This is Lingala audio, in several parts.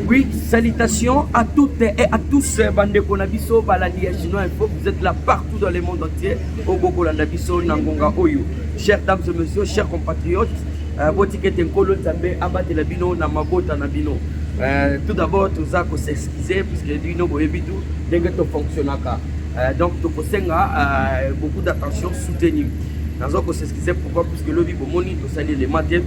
Oui, salutations à toutes et à tous euh, bandeko na biso balandi ya Chinois Info. Vous êtes là partout dans le monde entier. Au Bokolanda biso na ngonga oyo. Chers dames et messieurs, chers compatriotes, euh, botikete nkolo Nzambe abatela bino na mabota na bino. Euh, tout d'abord toza ko s'excuser puisque bino boyebi tout ndenge to fonctionnaka. Euh, donc tokosenga euh, beaucoup d'attention soutenue. Nazo ko s'excuser pourquoi puisque lobi bomoni nasali elema te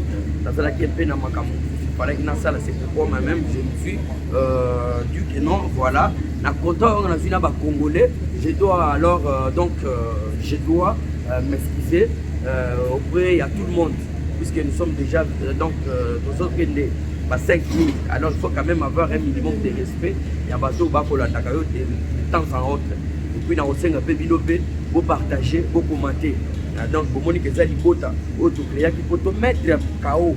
nazalaki mpe na makambo falaki nasala c'est pourquoi moi même je me suis euh, dit que non voilà na kota oyo nazwi na bacongolais je dois alors euh, donc euh, je dois euh, m'excuser euh, auprès ya tout le monde puisque nous sommes déjà euh, donc euh, tozokende ba 5 minutes alors il faut quand même avoir un minimum de respect ya bato bakolandaka yo de temps en autre epuis nakosenga mpe bino mpe bopartage bokomante Ah, donc bomoni ke eza libota oyo tokreaki mpo tomettre kao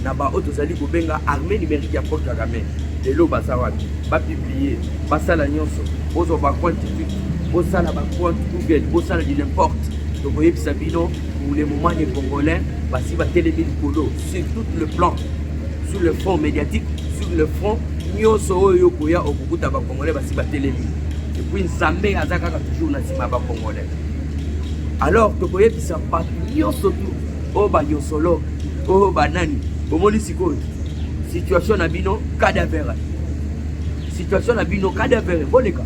na baoyo tozali kobenga armée numérique ya paul kagame lelo baza wapi bapublie basala nyonso bozwa bacoin tikit bosala bacoin google bosala du n'importe tokoyebisa bino pour le moment les congolais basi batelemi likolo sur tout le plan sur le front médiatique sur le front nyonso oyo okoya okokuta bacongolais basi batelemi epuis nzambe aza kaka toujours na nsima ya bacongolais alors tokoyebisa bato nyonso tu oyo banyonsolo oyo banani omoni sikoyo situation na bino cadavere situation na bino cadavere boleka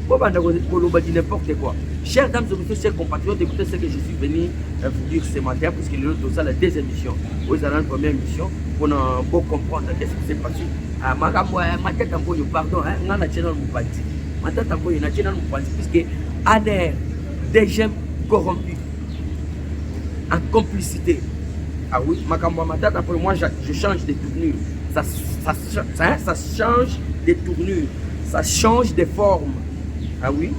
bobanda koloba di n'importe quoi chers dames et messieurs chers compatriotes écoutez ce que je suis venu euh, vous dire ce matin puisque lelo tozala deux émissions oyo ezala na première émission mpona bocomprendre qu'est ce qui s'est passé ah, makambo ya matata mpoyo pardon ngai na channel mopati Matata boye na tena mopanzi puisque ANR DGM corrompu en complicité. Ah oui, makambo matata pour moi je change de tournure. Ça, ça, ça, ça change de tournure, ça change de forme. Ah oui.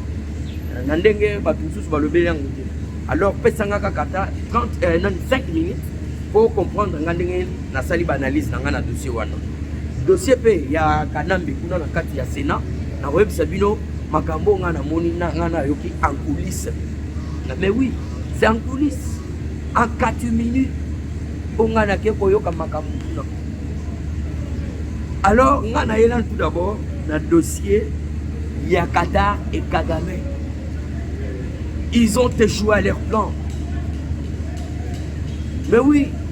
Na ndenge bato mosusu balobeli yango te. Alors pesanga kaka ata 30 euh, 5 minutes pour comprendre nga ndenge Nasali ba analyse na ngai na dossier wana. Dossier pe ya Kanambe kuna na kati ya Senat na koyebisa bino makambo ngai namoni na ngai nayoki en coulisse. Na mais oui, c'est en coulisse. En 4 minutes po ngai nake koyoka makambo kuna. Alors ngai nayela tout d'abord na dossier ya Qatar et Kagame. Ils ont échoué à leur plan. Mais oui,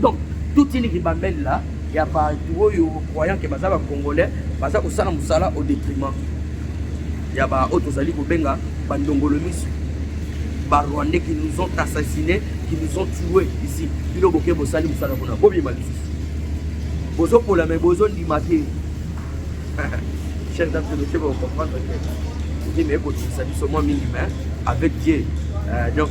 donc toute une ribambelle là ya bato oyo croyant ke baza bacongolais baza kosala mosala au détriment ya baoyo tozali kobenga bandongolo miso barwandais qui nous ont assassiné qui nous ont tué ici bino boke bosali mosala kuna bobima lisusu bozopola me bozondima te chef d'absolution bokocomprendre te ozemi ekotungisa biso mwa mingi mais avec dieu euh, donc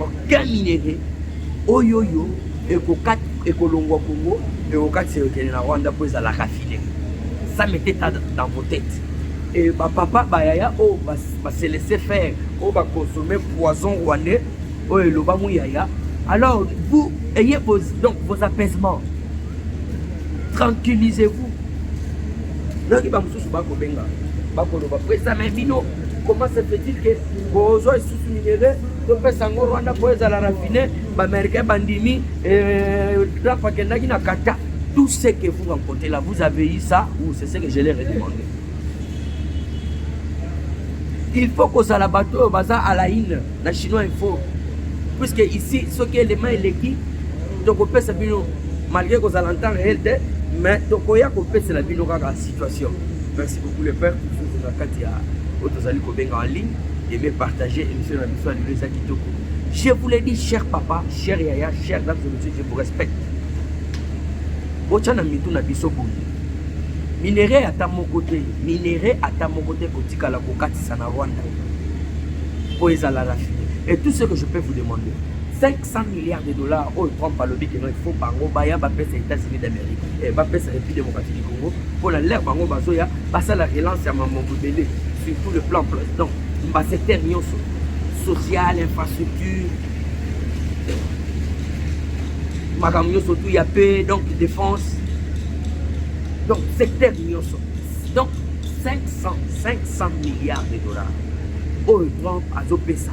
Aucun minerai oyo yo ekokata ekolongwa Congo ekokatisa ekende na Rwanda mpo ezala rafine ça mete ta dans vos têtes et bapapa bayaya oyo oh, baselese faire oyo oh, baconsomme poison rwandais oyo oh, eloba muyaya alors vous ayez vos, donc vos apaisements tranquillisez vous noki bamosusu bakobenga bakoloba presame bino comment se fait-il que bozwa isusu minele topesa yango rwanda mpo ezala rafine baaméricain bandimi eh, trump akendaki na kata tout ce que vous rencontrez là vous avez eu ça ou c'est ce que je l'ai redemandé il faut kozala bato oyo baza à la une na chinois info puisque ici soki elema eleki tokopesa bino malgré kozala ntan réel te mais tokoya kopesela bino kaka situation merci beaucoup le père kufuzu na kati ya oyo tozali kobenga en ligne ebe partage émission na biso ya lelo eza kitoko je vous le dis cher papa cher yaya cher dame de monsieur je vous respecte botya na mitu na biso boye minere ata moko te minere ata moko te kotikala kokatisa na rwanda mpo ezala rafine et tout ce que je peux vous demander 100 milliards de dollars oyo Trump alobi que non il faut bango baya bapesa États-Unis d'Amérique eh, bapesa République démocratique du Congo mpo na lere bango bazoya basala relance ya mambo bobele sur tout le plan donc basecteur nyonso social infrastructure makambo nyonso tout ya paix donc défense donc secteur nyonso donc 500 500 milliards de dollars oyo Trump azopesa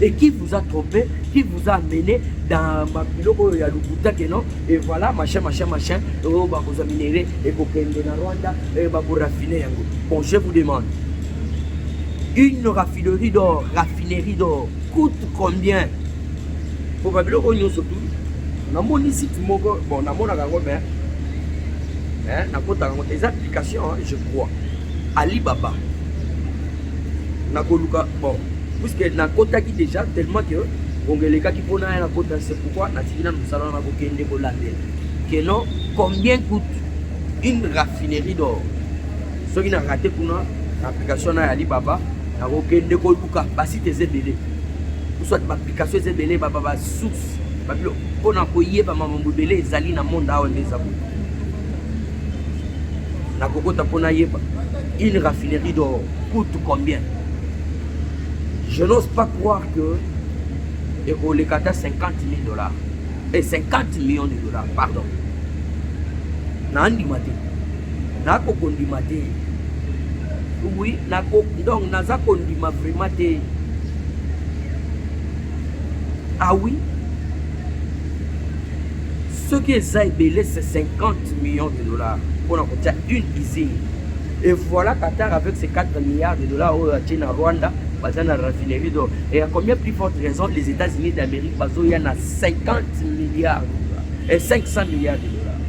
et qui vous a trompé, qui vous a amené dans ma biloko oyo ya lokuta que non et voilà machin machin machin oyo bakozwa minere ekokende na rwanda eh, bakorafine yango bon je vous demande une raffinerie d'or raffinerie d'or coûte combien po babiloko oyo nyonso tu namoni site moko bon namonaka yango mais nakotaka yango eza application je crois Alibaba nakoluka bon puisque nakotaki déjà tellement que bongo elekaki mpo na ya nakota c'est pourquoi natiki nanu mosala wana kokende kolandela que non combien coûte une raffinerie d'or soki na rate kuna na application na ya alibaba nakokende koluka basite eza ebele soit baapplication eza ebele baba basource babilo mpo na koyeba mamambo ebele ezali na monde awa nde eza boye na kokota mpo nayeba une raffinerie d'or coûte combien je n'ose pas croire que ekoleka ata 50 000 dollars et eh, 50 millions de dollars pardon nandima te nakokondima te oui nako donc naza kondima vraiment te ah oui soki eza ebele c'est 50 millions de dollars mpona kotia une usine et voilà Qatar avec ses 4 milliards de dollars oyo atie na Rwanda baza na raffinerie d'or et à combien plus forte raison les États-Unis d'Amérique bazoya na 50 milliards et 500 milliards de dollars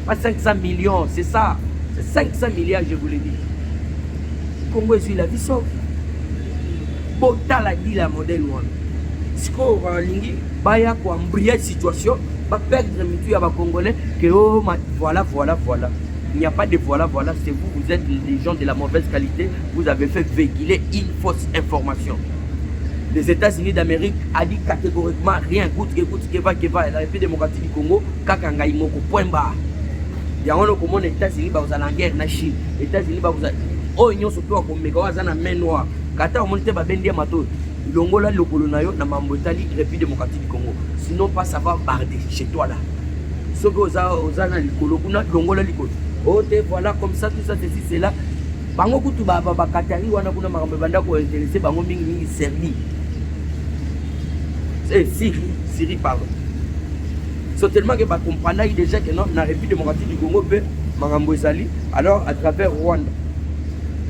pas 500 millions c'est ça c'est 500 milliards je vous le dis Congo ezwi la vie sauve Botala dila ya modèle wana. Sikoyo balingi baya ko embrayer situation, ba perdre mitu ya ba congolais que oh ma voilà voilà voilà. Il n'y a pas de voilà voilà, c'est vous vous êtes des gens de la mauvaise qualité, vous avez fait véhiculer une fausse information. Les États-Unis d'Amérique a dit catégoriquement rien coûte que coûte que va que va la République démocratique du Congo kaka ngai moko point barre. yango wana okomona états-unis bakozala na guerre na chine états-unis bakozala oyo nyonso mpe wakomeka oyo aza na main noire Kata omoni te babendi ya matoyi longola lokolo na yo na mambo etali République démocratique du Congo sinon pas ça va barder chez toi là soki oza oza na likolo kuna longola likolo oh te voilà comme ça tout ça ceci cela bango kutu bakatari wana kuna makambo ebanda kointeresse bango mingi mingi serbie eh, siri siri pardon so tellement ke bacomprenaki déjà ke na république démocratique du congo mpe makambo ezali alors à travers rwanda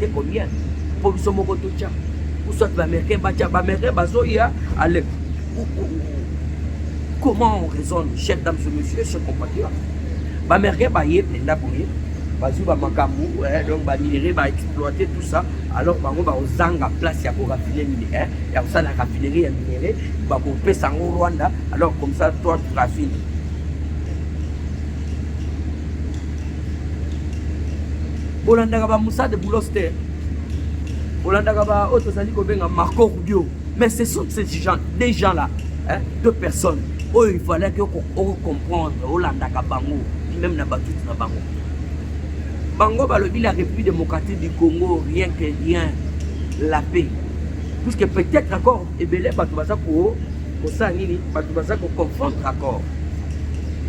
te combien mpo biso moko totya uswat baaméricain batya baaméricain bazoya ale comment on raisonne chef dame ce monsieur ce compatriote baaméricain baye mpenza boye bazwi bamakambo eh, donc baminere baexploite tout ça alors bango bakozanga place ya korafine mine eh, ya kosala raffinerie ya minere bakopesa yango rwanda alors comme ça toi tu raffine bolandaka ba Moussa de Boulos te bolandaka ba oyo tozali kobenga Marco Rubio mais ce sont ces gens des gens là hein, deux personnes oyo il fallait que ocomprendre olandaka bango même na batuti na bango bango balobi la république démocratique du congo rien que rien la paix puisque peut-être encore ebele bato baza ko kosala nini bato baza ko confondre accord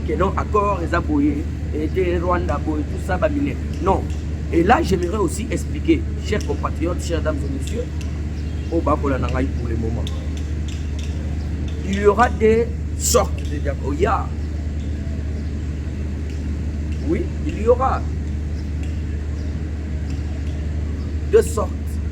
que non accord eza boye ete rwanda boye tout ça bamine non et là j'aimerais aussi expliquer chers compatriotes chers dames et messieurs oyo bakola na ngai pour le moment il y aura des sortes de diaconia oh, yeah. oui il y aura deux sortes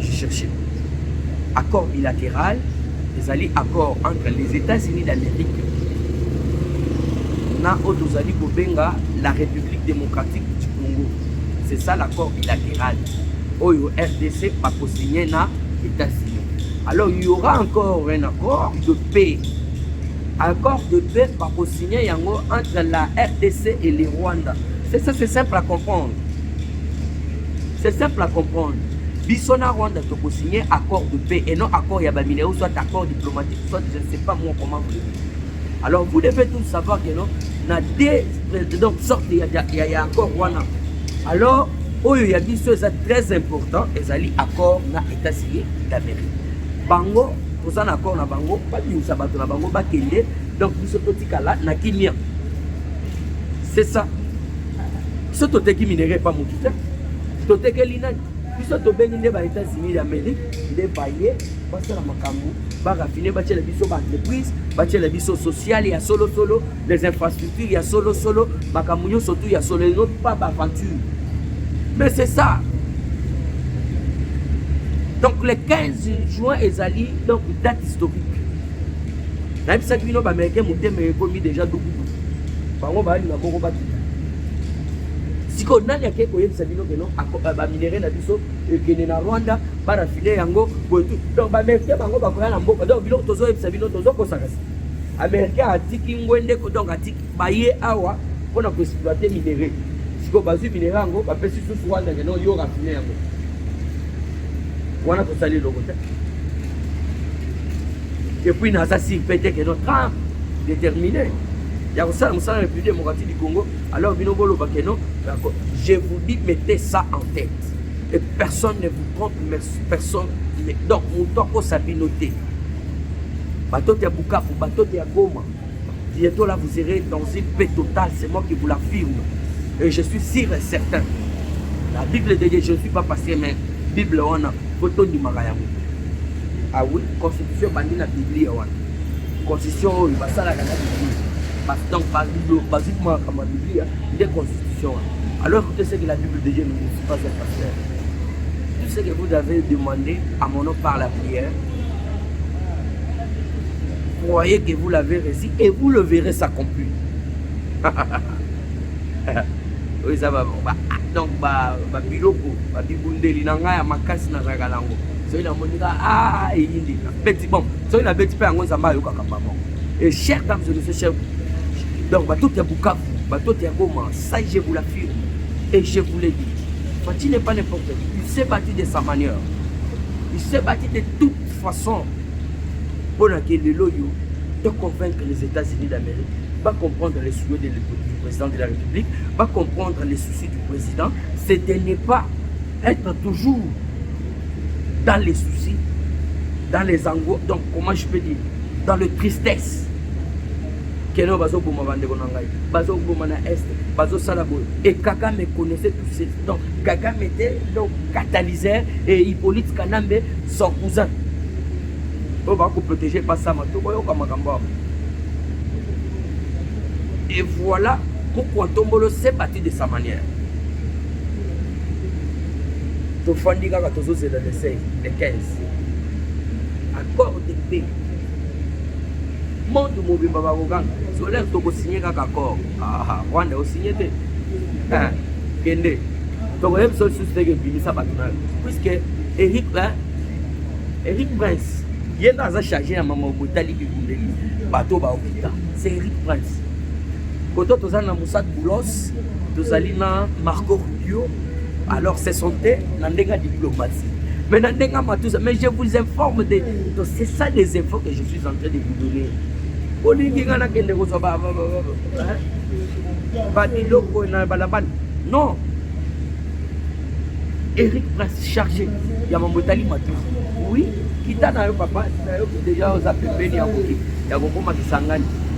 je cherche accord bilatéral ezali accord entre les États-Unis d'Amérique na oyo tozali kobenga la République démocratique du Congo c'est ça l'accord bilatéral oyo RDC bakosigne na États-Unis alors il y aura encore un accord de paix accord de paix bakosigne yango entre la RDC et le Rwanda c'est ça c'est simple à comprendre C'est simple à comprendre. Biso na Rwanda toko signer accord de paix et non accord ya bamineo soit accord diplomatique soit je ne sais pas moi comment vous le dites. Alors vous devez tous savoir que non na deux euh, donc sorte ya ya, ya accord wana. Alors oyo ya biso eza très important ezali accord na États-Unis d'Amérique. Bango toza na accord na bango babimisa bato na bango bakende donc biso totikala na kimia. C'est ça. biso toteki minere epa motu te totekeli nani biso tobengi nde ba états-unis d'amérique nde baye basala makambo barafine batyela biso baentreprise batyela biso sociale ya solosolo les infrastructures ya solosolo makambo nyonso tu ya solo eno pas baaventure mais c'est ça donc le 15 juin ezali donc date historique nayebisaki bino baaméricain motema ekomi déjà dukudu bango balinga bongo sikoyo nani akei koyebisa bino keno euh, baminere na biso ekende na rwanda barafine yango boye tu donc baamericain bango bakoya na mboka donc biloko tozoyebisa bino tozokosakasi américain atiki ngwende donc atiki baye awa mpo na koexploite minere sikoyo bazwi minere yango bapesi susu wana keno yo rafine yango wana tosali eloko te epuis naza sir mpe te keno trump determine ya kosala mosala na République démocratique du Congo, alors bino boloba que non, je vous dis mettez ça en tête. Et personne ne vous trompe, mais personne ne... Donc, moto akosa bino te. Batote ya Bukavu, batote ya Goma. Bientôt là, vous irez dans une paix totale, c'est moi qui vous l'affirme. Et je suis sûr et certain. La Bible de Dieu, je ne suis pas passé, mais Bible, on a photo du Marayamu. Ah oui, constitution bandit la Bible, on a. constitution oyo basalaka na biblia donc bazwi kuma makambo ya biblia nde constitution wana alors que ce que la bible de dieu ne dit pas un pasteur tout ce que vous avez demandé à mon nom par la prière croyez que vous l'avez reçu et vous le verrez s'accomplir oyo eza donc babiloko babibundeli na ngai ya makasi nazalaka nango soki namonika eyindika beti bombe soki nabeti mpe yango nzambe ayokaka mbango et chers dames et messieurs chers donc batoto ya bukavu batoto ya goma ça je vous l'affirme et je vous le dis Fatih n'est pas n'importe qui il s'est battu de sa manière il s'est battu de toute façon mpo na ke lelo oyo de convaincre les États-Unis d'Amérique, va comprendre les souhaits du président de la République, va comprendre les soucis du président, c'est de ne pas être toujours dans les soucis, dans les angoisses, donc comment je peux dire, dans le tristesse. keno bazoboma bandeko na ngai bazoboma na est bazosala boye e kagame connaissait tout ce donc kagame était le catalyseur et hippolyte kanambe son cousin oyo bakoprotege pasama to boyoka makambo yango et voilà mokwa ntombolo se bati de sa manière tofandi kaka tozozela le 16 le 15 accord de paix monde mobimba bakoganga solaire tokosinye kaka accord ah, rwanda osinye te ah, kende tokoyebisa lisusu teke bimisa bato nayo puiske eric eric prince ye nde aza charge ya mama botali bibundeli bato baokita c'est eric prince Koto tozali na Moussad Boulos, tozali na Marco Rubio, alors se sente na ndenge ya diplomatie mais na ndenge ya matusa mais je vous informe de donc c'est ça des infos que je suis en train de vous donner olingi ngai nakende kozwa babiloko na balabala non eric prince chargé ya mambo etali matusa oui kita na yo papa na yo deja oza pembeni ya kokoma kisangani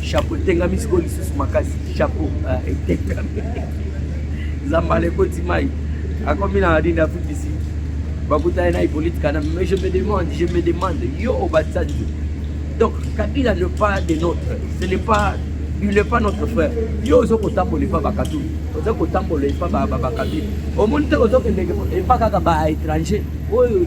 chapeau etengami sikoyo lisusu makasi chapeau ah, etengami zambala ekoti mai akomi na nini afrique du sud bakutani na hippolite kana mais je me demande je me demande yo obatsanzi donc kabila ne pas de notre ce n'est pas il n'est pas notre frère yo ozo kotambola epa bakatuli oza kotambola epa bakabila omoni te ozokendeke epa kaka ba étranger oyo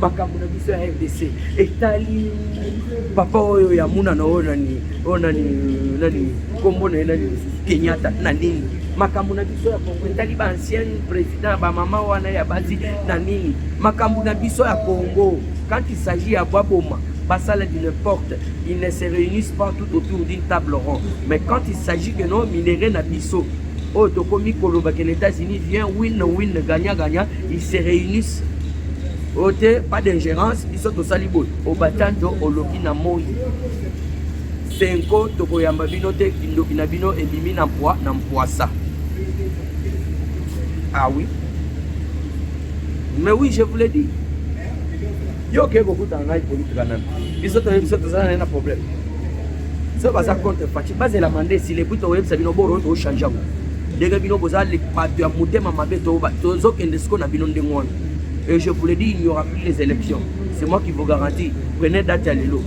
makambo na biso ya rdc etali papa oyo ya munana oyo nani oyo nani nani nkombo na ye nani lisusu kenyatta na nini makambo na biso ya kongo etali ba ancien président bamama wana ya basi na nini makambo na biso ya kongo quand il s'agit ya bwaboma basala du n'importe ils ne se réunissent pas tout autour d'une table ronde mais quand il s'agit que no minere na biso oyo tokomi koloba ke na états-unis vient win win gagna gagna ils se réunissent oyo te pas d'ingérence biso tosali boye obatando oloki na moi senko tokoyamba bino te kindoki na bino ebimi na mpwa na mpwasa ah oui mais oui je vous l'ai dit yo okei kokutana ngai politika nani biso toyebi biso tozala naye na problème so baza contre faci bazelama nde esili epui tokoyebisa bino boro tochange yango ndenge bino boza le bato ya motema mabe tozokende siko na bino ndenge wana et je vous le dis il n'y aura plus les élections c'est moi qui vous garantis prenez date ya lelo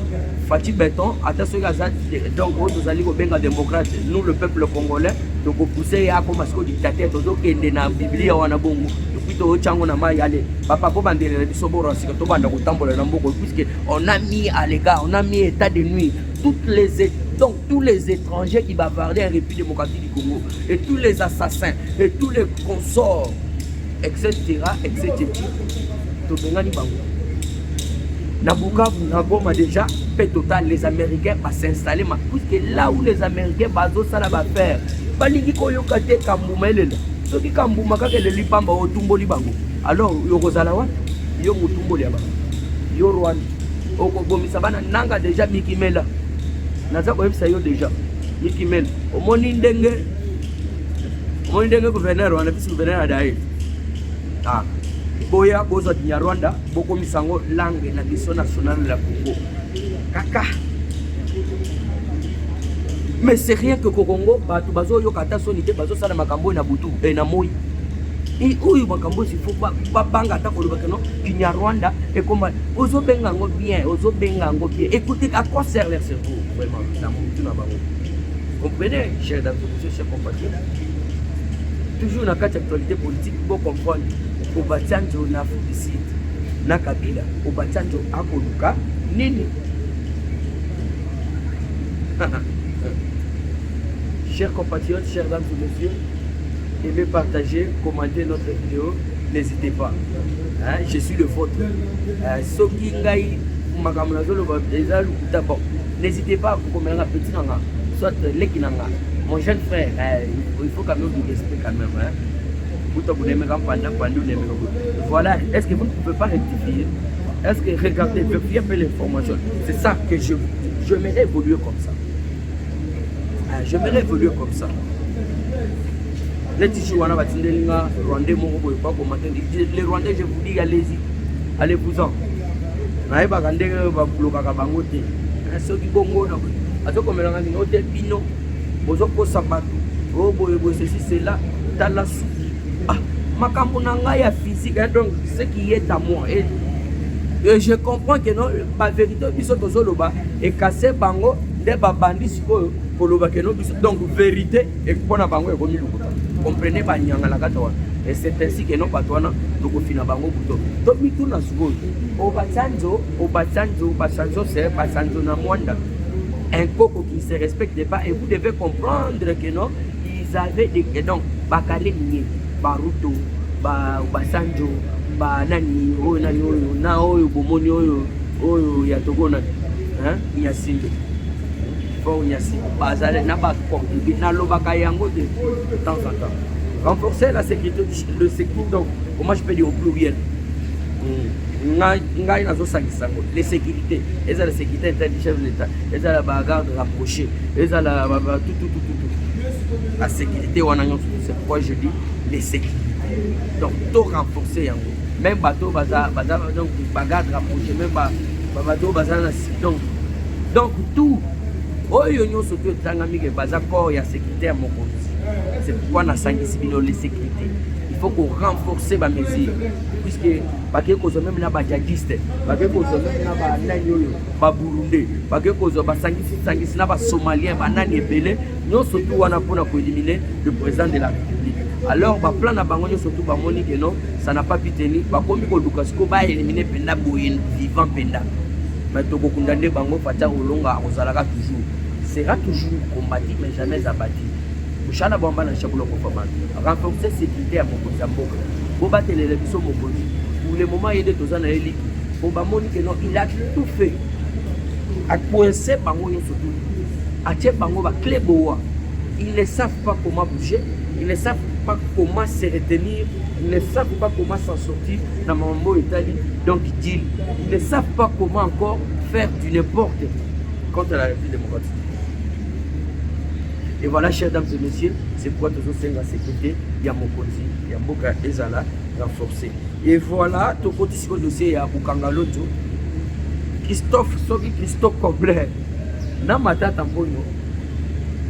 Fatih Beton, ata soki aza donc oyo tozali kobenga démocrate nous le peuple congolais tokopuse ye akoma sikoyo dictateur tozokende na biblia wana bongo epuis toyotya yango na mai ale papa kobandelela biso bora sika tobanda kotambola na mboko puisque on a mis à l'égard on a mis état de nuit toutes les donc tous les étrangers qui bavardaient en république démocratique Congo et tous les assassins et tous les consorts etc etc tobengani bango na bukavu na goma déjà mpe total les américains basinstalle ma puisque là où les américains bazosala baffaire balingi koyoka te kambuma elela soki kambuma kaka eleli mpamba otumboli bango alors yokozala wapi yo motumboli ya bango yo rwanda okobomisa bana nanga deja mikimela naza koyebisa yo deja Mickey Men, omoni ndenge omoni ndenge gouverneur wana biso gouverneur adaye ah, boya bozwa kinyarwanda bokomisa yango langue na biso nationale la Congo kaka mais c'est rien que kokongo bato bazoyoka ata soni te bazosala makambo oyo na butu e na moi oyo makambo oyo ifo babanga ata kolobaka no kinyarwanda ekoma ozobenga yango bien ozobenga yango bien écoute à quoi sert leur cerveau vraiment na mutu na bango comprenez cher d'entreprise cher compatriote toujours na kati ya actualité politique bo comprendre obatsanjo na afrique du sud na kabila obatsanjo akoluka nini chers compatriotes chers dames et messieurs aimez partager commentez notre vidéo n'hésitez pas hein, je suis le vôtre euh, soki ngai makambo nazoloba eza lokuta bon N'hésitez pas kokomela nga petit nanga soit leki nanga mon jeune frère eh, il faut quand même du respect quand même hein kuta kunemeka mpanda mpanda onemeka voilà est ce que vous ne pouvez pas rectifier est ce que regardez vérifiez un peu l'information c'est ça que je je me évoluer comme ça ah, je me évoluer comme ça neti jour wana batindeli nga rwandais moko boye bakoma te le rwandais je vous dis allez-y allez vous en nayebaka ndenge oyo bablokaka bango te eh, soki bongo azokomelaka nini ote bino bozokosa bato o oh, boye boye ceci cela tala suki ah, makambo na ngai ya physique eh, donc ce qui est à moi et, eh. et je comprends que non bavérité oyo biso tozoloba ekase bango nde babandi sikoyo koloba keno biso donc vérité Et puis pona bango ekomi lokuta. Comprenez ba nyanga na kata wana. Et c'est ainsi que non bato wana tokofina bango buto. To mituna sikoyo. Obasanjo, Obasanjo, Obasanjo c'est Obasanjo na Mwanda. Un koko qui se respecte pas et vous devez comprendre que non, ils avaient des et donc bakale niye, baruto, ba Obasanjo, ba nani oyo nani oyo na oyo bomoni oyo oyo ya tokona hein ya sinde Bonyasi bazali na ba concubine nalobaka yango de temps en temps renforcer la sécurité le sécurité donc comment je peux dire au pluriel ngai nazosangisa yango le sécurité ezala sécurité interne du chef de l'état ezala ba garde rapproché ezala tututututu la sécurité wana nyonso c'est pourquoi je dis les sécurité donc to renforcer yango même bato baza baza donc bagarde rapproché même bato baza na donc donc tout oyo nyonso to etangami ke baza corps ya sécurité ya mokonzi c'est pourquoi nasangisi bino les sécurité il faut ko renforcer ba mesure puisque bakei kozwa meme na bajadiste bakei kozwa meme na banani oyo baburundais bakei kozwa basangisisangisi na basomalien banani ebele nyonso tu wana mpona koelimine le président de la république alors baplan na bango nyonso tu bamoni keno ça na pas piteni bakomi koluka sikoyo baelimine mpenza boye vivant mpenza mais tokokunda nde bango fati akolonga akozalaka toujours sera toujours combati mais jamais abati moshala bwamba na chabulo kofamana renforcer sécurité ya mokonzi ya mboka bobatelela biso mokonzi pour le moment ye nde toza na ye liki po bamoni ke non il a tout fait akoinse bango nyonso tu atie bango baclé boa ils ne savent pas comment bouger ils ne savent pas comment se retenir ils ne savent pas comment s'en sortir na mambo etali donc deal ils ne savent pas comment encore faire du n'importe contre la République démocratique et voilà chers dames et messieurs c'est pourquoi tozosenga sécurité ya mokonzi ya mboka ezala renforcé et voilà tokoti siko dossier ya kokanga loto christophe soki christophe cobler na matata mponyo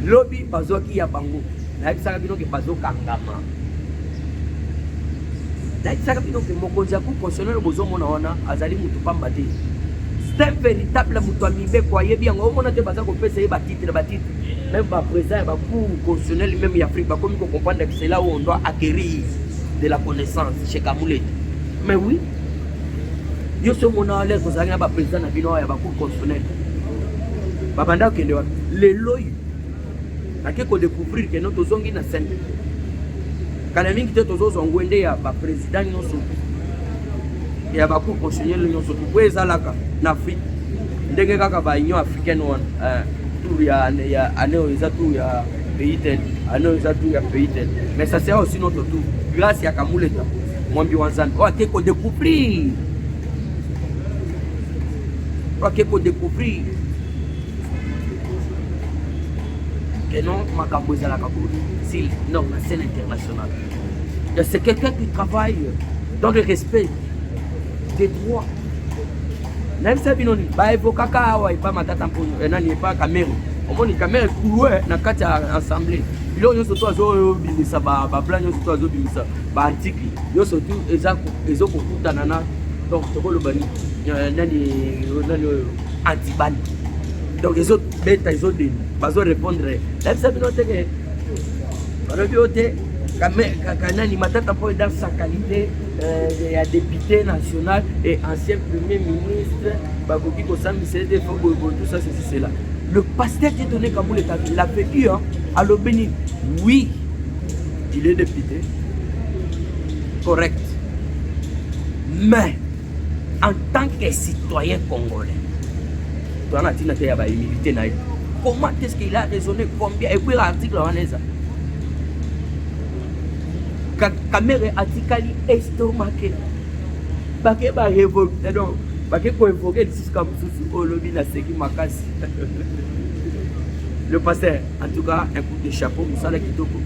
lobi bazwaki ya bango nayebisaka bino ke bazokangama nayebisaka bino mpe mokonzi ya cour constitutionnel bozomona wana azali motu pamba te c'est un véritable moto ya mibeko ayebi yango omona te baza kopesa ye batitre batitre meme baprésident ya bacour constitutionnel meme ya afrique bakomi kocomprendre que cela oyo doit acquérir de la connaissance chez kamulete mais oui yo so omona lere kozalaki na baprésident na bino ya bacour constitutionnel babanda kokende wapi lelo oyo nake ko découvrir que no tozongi na scène kala mingi te tozozwa ngwende ya ba président nyonso ya ba cour constitutionnelle nyonso po ezalaka na Afrique ndenge kaka ba union africaine wana eh, tour ya ya année oyo eza tour ya pays tel année oyo eza tour ya pays tel mais ça sera aussi notre tour grâce ya Kamuleta mwambi wa Nzambe oyo ake ko découvrir oyo ake ko découvrir et non makambo ezalaka boye si non na scène internationale c'est quelqu'un qui travaille dans le respect des droits nayebisa bino nini baevokaka awa epa matata mpo eh, nani epa kamere omoni kamere kulue eh, na kati ya assemblée biloko nyonso to azobimisa babla nyonso to azobimisa baarticle nyonso tu ezokokutana na donc tokoloba eh, nani nani oyo antibani donc ezo beta ezo deni bazo répondre nayebisa bino te ke balobi yo te kanani matata mpo eda sa qualité euh, ya député national et ancien premier ministre bakoki kosambisa ete fo boyeboye tout ça ceci cela le pasteur qui donné kaboul est il a fait eu hein, alobi nini oui il est député correct mais en tant que citoyen congolais toza na ntina te ya bahumilité na ye comment est ce qu'il a raisonné combien epuela article wana eza kamere atikali estomake bake barevoke donc bake koevoke lisusu ka mosusu olobi naseki makasi le pasteur En tout cas, un coup de chapeau, musala kitoko.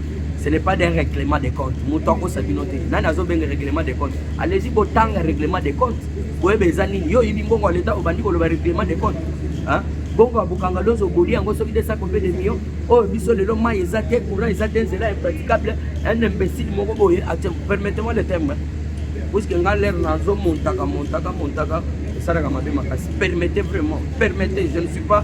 Ce n'est pas des règlements de compte. Moto akosa bino te. Nani azobenga règlement de compte? Allez-y botanga règlement de compte. Boyeba eza nini? Yo oyibi mbongo ya leta obandi koloba règlement de compte. Hein? bongo ya bokanga lozo oboli yango soki nde sako mpe demio oyo oh, biso lelo mai eza te courant eza te nzela impraticable un imbécile moko boye atie permettez moi le terme puiske nga lere nazo montaka montaka montaka esalaka mabe makasi permettez vraiment permettez je ne suis pas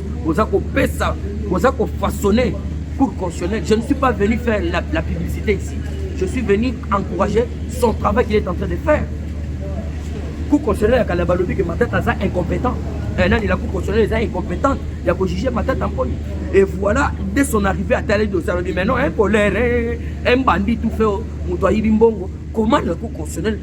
boza kopesa boza kofaçonne cour constitutionnelle je ne suis pas venu faire la, la publicité ici je suis venu encourager son travail qu'il est en train de faire cour constitutionnelle ya kala balobi ke matata aza incompétent eh, nani la cour constitutionnelle eza incompétente ya kojuge matata mponi et voilà dès son arrivé ataleli dosalobi maintenant un colère un bandit tout fait moto ayibi mbongo comment la cour constitutionnelle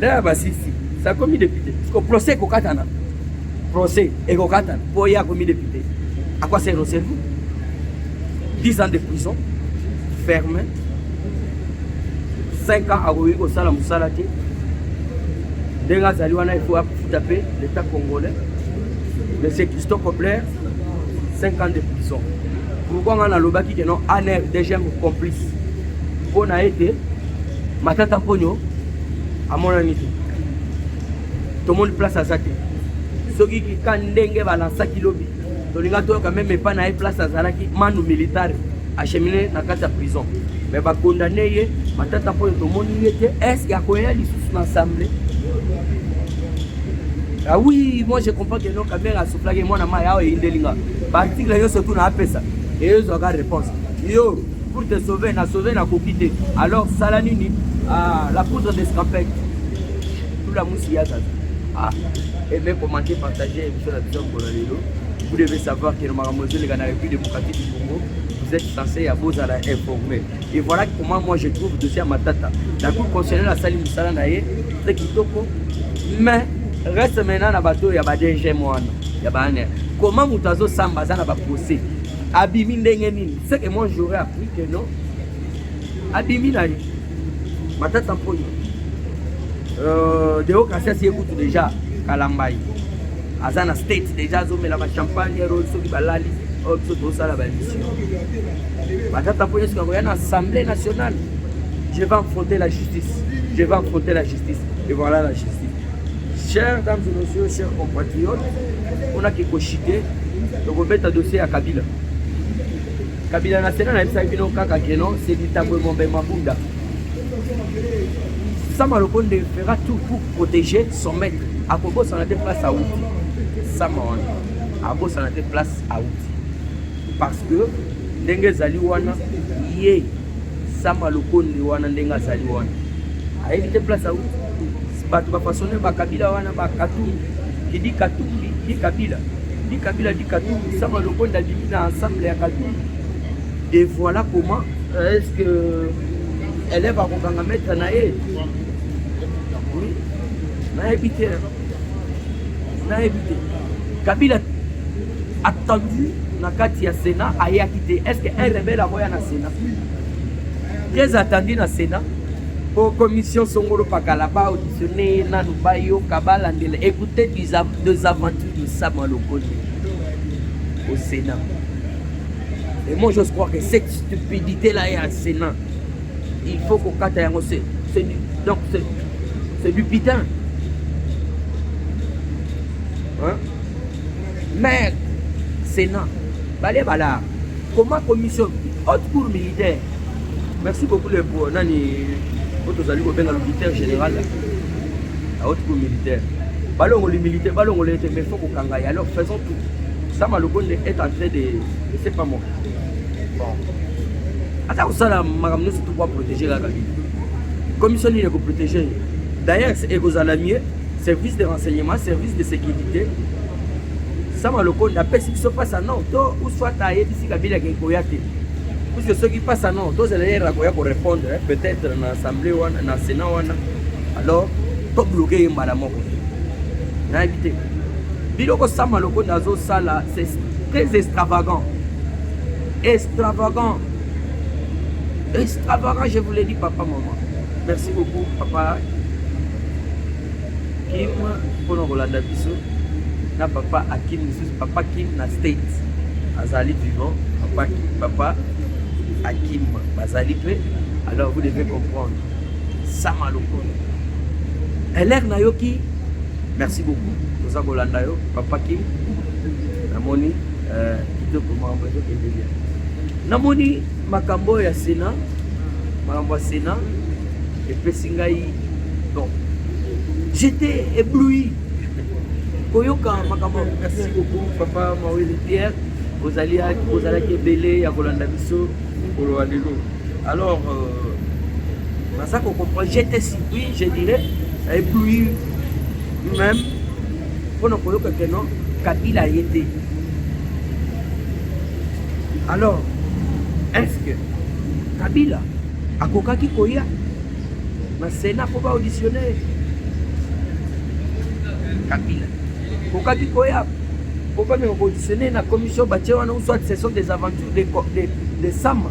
Lea basisi sakomi depute ko procès kokatana procès ekokatana mpo ye akomi depute à quoi sert cerveau 10 ans de prison ferme 5 ans akoki kosala mosala te ndenge azali wana il faut afuta mpe l'état congolais monsieur christo cobler 5 ans de prison pourquoi ngai nalobaki ke non anr deuxième complice mpo na ete Matata Mponyo amonani te, tomoni place aza te. Soki kika ndenge balansaki lobi, tolinga toyoka meme epai na ye place azalaki manu militaire achemine na kati ya prison, me bakondane ye. Matata Mponyo tomoni ye te, eske akoya lisusu na assemble? Ah oui, moi je comprends que non, Kabila asoufflaki mwana mayi awa eyindeli nga. Ba article yo surtout na apesa. Et yo zwa ka réponse. Yo pour te sauver na sauver na koki te alors sala nini ah, la poudre d'escampette tout la musi ya zaza ah aimer commenter partager émission na biso mbola lelo vous devez savoir que makambo ezoleka na république démocratique du congo vous êtes censé ya bozala informé et voilà comment moi je trouve dossier ya matata la cour constitutionnelle asali mosala na ye très kitoko mais reste maintenant na bato ya ba dgm wana ya baane comment moto azosamba aza na baprocès abimi ndenge nini Ce que moi j'aurais appris que non, abimi na ye matata mponyo euh, deo kasiasi ye kutu deja kalambai aza na state deja azomela bachampagne ero soki balali oyo oh, biso tozosala bamission matata mponyo soki akoya na assemblée nationale je vais affronter la justice je vais affronter la justice et voilà la justice Chers dames et messieurs, chers compatriotes, on a qui cochité, donc on met un dossier à Kabila. Kabila na Sénat, na Epsa Kino Kaka Keno, c'est du tabou Mombe Mabunda. Sama Lokonde fera tout pour protéger son maître. À Kobo, ça n'a été place à Outi. Sama on. À Kobo, ça n'a été place à Outi. Parce que, Dengue Zali Wana, yé, Sama lokonde wana ndenge azali wana ayebi te place au bato bapasone bakabila wana bakatumbi kidi katumbi di kabila di kabila di katumbi sama lokonde abimi na ensemble ya katumbi de voilà comment euh, est ce que élève akokanga maître na ye oui nayebi te nayebi te kabila attendu na kati ya sénat ayaki te est ce que un rebelle akoya na sénat très attendu na Sénat po commission songolo pakala ba auditionne nanu bayoka balandela écoutez des aventures de Sama Lokole au Sénat et moi j'ose croire que cette stupidité là est à Sénat il faut kokata yango c'est du donc c'est du pitin hein mais Sénat bale balaa Comment commission haute cour militaire. Merci beaucoup le pour nani oyo tozali kobenga l'auditeur général la haute cour militaire. Balongoli militaire, balongoli ete mais faut kokanga ye. Alors faisons tout. Sama Lokonde est en train de je sais pas moi. Bon. Ata kosala makambo nyonso to kwa protéger la Kabila. Commission nini ekoprotéger ye? D'ailleurs ekozala mieux service de renseignement service de sécurité sama lokondo apesi biso pasa non to uswata ayebisi kabila akei koya te puisque soki pasa non tozela yere akoya korépondre eh, peut-être na assemblée wana na sénat wana alors tobloke ye mbala moko nayebi te biloko sama lokondo azosala c'est très extravagant extravagant extravagant je vous l'ai dit papa maman merci beaucoup papa Kim mpona kolanda biso na papa Akim lisusu papa Kim na state azali vivant papa Kim papa Akim bazali mpe alors vous devez comprendre sama lokola elere nayoki merci beaucoup toza kolanda yo papa Kim namoni euh, kitoko mambo ezokende bien namoni makambo oyo ya sena makambo ya sena epesi ngai don j'étais ébloui koyoka makambo merci beaucoup papa mawele pierre ozalaki ebele ya kolanda biso mokolo wa lelo alors euh, naza kocomprendre j'étais surpris je dirais ébloui même mpo na koyoka que non kabila aye te alors est ce que kabila akokaki koya na sena mpo baauditionne kabila akokaki koya mpo bameka koauditionne na commission batie wana uswat session des aventures de, de, de sama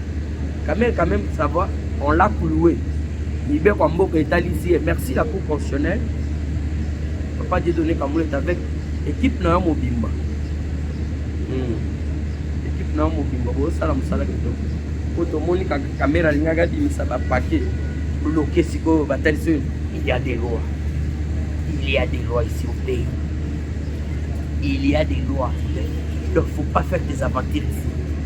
Kamel quand même ça va on l'a cloué mibeko ya mboka etalisi ye merci la cour constitutionnelle papa dieu donné kamulete avec équipe na yo mobimba hmm. équipe na yo mobimba bosala mosala kitoko po tomoni kamera alingaki abimisa bapake bloke sikoyo batalisi oyo il y a des lois il y a des lois ici au pays il y a des lois il ne faut pas faire des aventures ici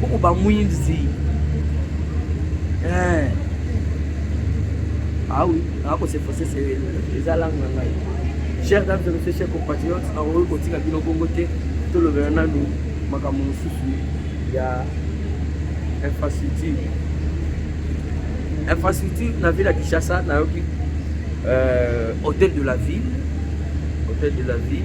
Boko ba mwinzi. Eh. Ah oui, ako se forcer c'est eza langue na ngai. Cher dame de monsieur cher compatriote, na oyo kotika bino bongo te. Tolobela nanu makambo mosusu ya infrastructure. Infrastructure na ville ya Kinshasa nayoki euh, hôtel de la ville, hôtel de la ville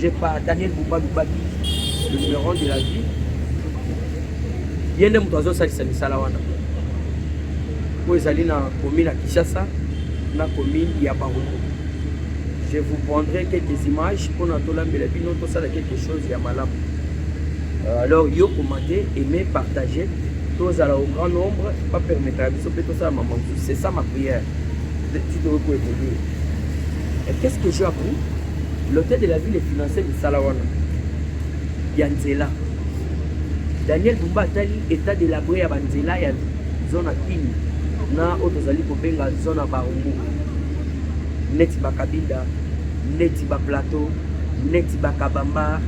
J'ai pas Daniel Bumba Lubaki, le numéro de la vie. Ye nde moto azosalisa misala wana oyo ezali na commune ya Kinshasa na commune ya Barumu. Je vous prendrai quelques images mpo na tolambela bino tosala quelque chose ya malamu. Euh, alors yo commenter, aimer, partager tozala au grand nombre bapermetaka biso mpe tosala mama mosusu c'est ça ma prière titokoki koevolue Et qu'est-ce que j'ai appris L'hôtel de la ville est financé misala wana ya nzela. Daniel Bumba atali état de labre ya banzela ya zone ya Kini na oyo tozali kobenga zone ya Barumbu, neti bakabinda, neti baplateau, neti bakabamba,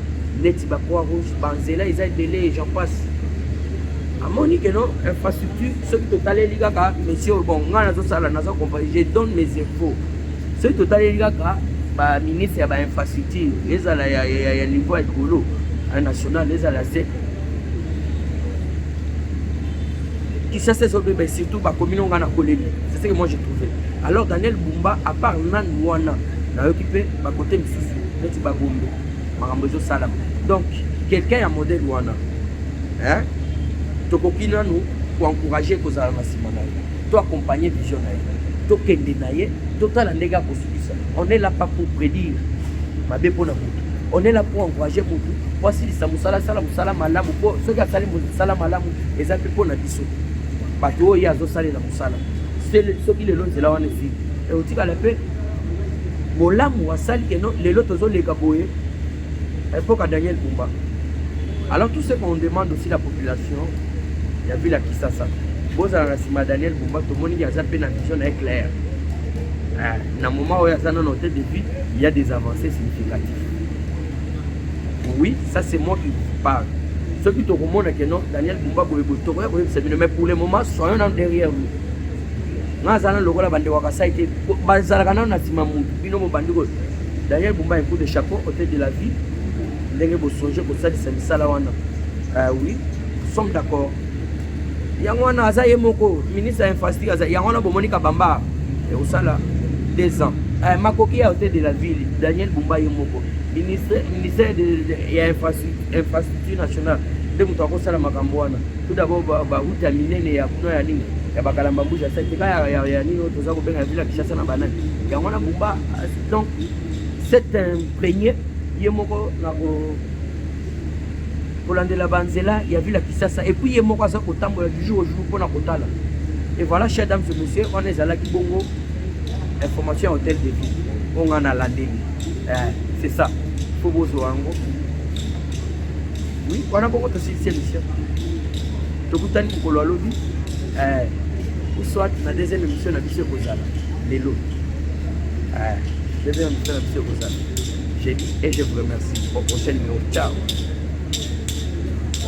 neti ba croix rouge, banzela eza ebele, j'en passe. Amoni que non infrastructure soki totaleli kaka monsieur oyo bon ngai nazosala naza compagnie je donne mes infos soki totaleli kaka baministre ya bainfrastructure ezala ya, ya, ya niveau ya likolo ya national ezala se kisasa ezobeba surtout bakomi nonga na koleli c'est ce que moi je trouvé alors daniel bumba à part nani wana nayoki mpe bakote mosusu neti bagombe makambo ezosalama donc quelqu'un ya modèle wana hein? tokoki nanu koencourage kozala na nsima na ye to accompagne vision na ye tokende na ye totala ndenge akosukisa on est là pas pour prédire mabe mpo na motu on est là pour encourager motu mpo asilisa mosala asala mosala malamu mpo soki asali mosala malamu eza mpe mpo na biso bato oyo ye azosalela mosala soki lelo nzela wana ezili ekotikala mpe bolamu asali que non lelo tozoleka boye epoka daniel bumba alors tout ce qu'on demande aussi la population ya ville ya kisasa bozala na nsima ya daniel bumba tomoni ke aza mpe na vision na ye claire ah, na moment oyo aza nano te depuis il y a des avancées significatives oui ça c'est moi qui vous parle soki tokomona ke non daniel bumba boye boye tokoya koyebisa bino mais pour le moment soyons na derrière nous nga aza nanu lokola bande wa kasai te bazalaka nanu na nsima mutu bino bobandi ko daniel bumba un coup de chapeau hotel de la vie ndenge bosonge kosalisa misala wana uh, oui somme d'accord yango wana aza ye moko ministre ya infrastructure aza yango wana bomoni kabamba ekosala eh, deux ans uh, makoki ya hotel de la ville daniel bumba ye moko ministère ya infrastructure nationale nde moto akosala makambo wana Tout d'abord ba route ya minene ya kuna ya nini ya bakalamba mbuji ya santeka ya nini oyo toza kobenga vila kinshasa na banani yango wana bumba donc c'est un premier ye moko na kolandela banzela ya vila kisasa epuis ye moko aza kotambola du jour au jour mpona kotala et voilà cher dame ce monsieur wana ezalaki bongo information ya hôtel de ville oyo ngai nalandeli eh, c'est ça fo bozwa yango Oui, wana bongo tosilisi émission. Tokutani mokolo ya lobi. Eh, ou soit na deuxième émission na biso ekozala lelo. Eh, deuxième émission na biso ekozala. J'ai dit et je vous remercie. Au prochain numéro. Ciao.